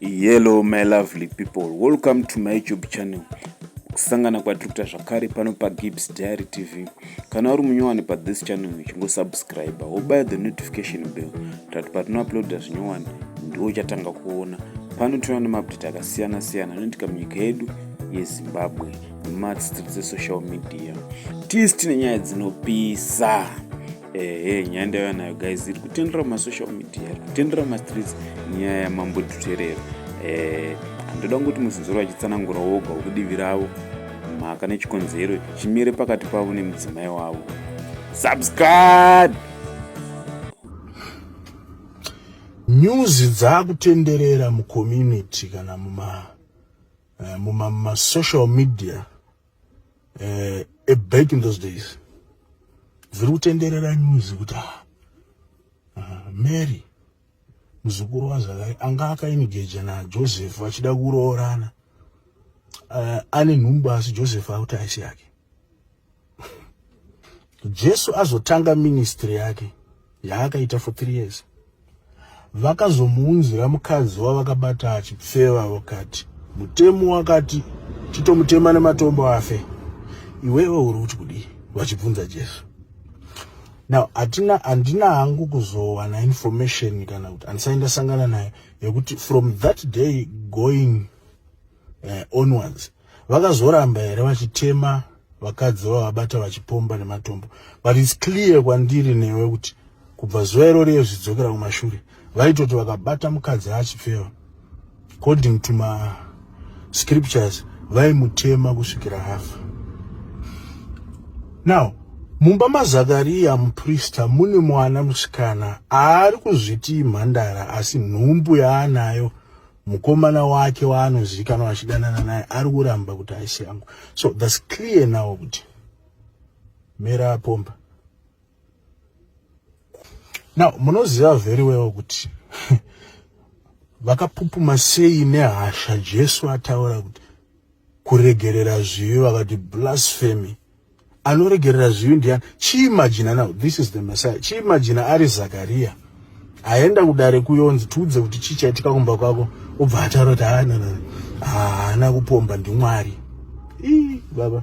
Hello my lovely people, welcome to my YouTube channel. Kusangana kwatiri kuita zvakare pano paGibbs Diary TV. Kana uri munyowani pathis channel chingosubscribe wobaya the notification bell tati patinouploada zvinyowani ndiwo uchatanga kuona. Pano tinoona maupdate akasiyana siyana anoitika munyika yedu yezimbabwe nemadzitiri dzesocial media tisi tine nyaya dzinopisa ehe nyaya ndaiva nayo guys iri kutendera mumasocial media iri kutendera mumastreets nyaya yamambo tuterero eh, handoda kungoti muzinzoro vachitsanangura woga wekudivi ravo mhaka nechikonzero chimire pakati pavo nemudzimai wavo subscribe nyuzi dzaakutenderera mucommunity kana muma eh, muma mumasocial media uh, a back in those days dziri kutenderera news kuti ah, ah, mary muzukuru wazvakai anga akainigeja najoseph vachida kuroorana uh, ane nhumbu asi joseph akuti aisi yake jesu azotanga ministry yake yaakaita for three years vakazomuunzira mukadzi wavakabata achipfeva vakati mutemo wakati chitomutema nematombo afe iwewe uri kuti kudii vachibvunza jesu now hatina handina hangu kuzowana information kana kuti handisai ndasangana nayo yekuti from that day going eh, onwards vakazoramba here vachitema vakadzi vavabata vachipomba nematombo but its clear kwandiri newe kuti kubva zuva irori yezvidzokera kumashure vaitoti vakabata mukadzi achipfeva according to ma scriptures vaimutema kusvikira hafa now mumba mazakariya muprista mune mwana musikana aari kuzviti imhandara asi nhumbu yaanayo mukomana wake waanozivikanwa achidanana naye ari kuramba kuti haisi yangu so thats clear now kuti mera apomba now munoziva very well kuti vakapupuma sei nehasha jesu ataura kuti kuregerera zvivi vakati blasphemy anoregerera zvivi ndiani chiimajina now this is the messiah chiimajina ari zakariya aenda kudare kuyonzi tiudze kuti chii chaitika kumba kwako obva ataura kuti haana ah, ah, haana kupomba ndimwari ii baba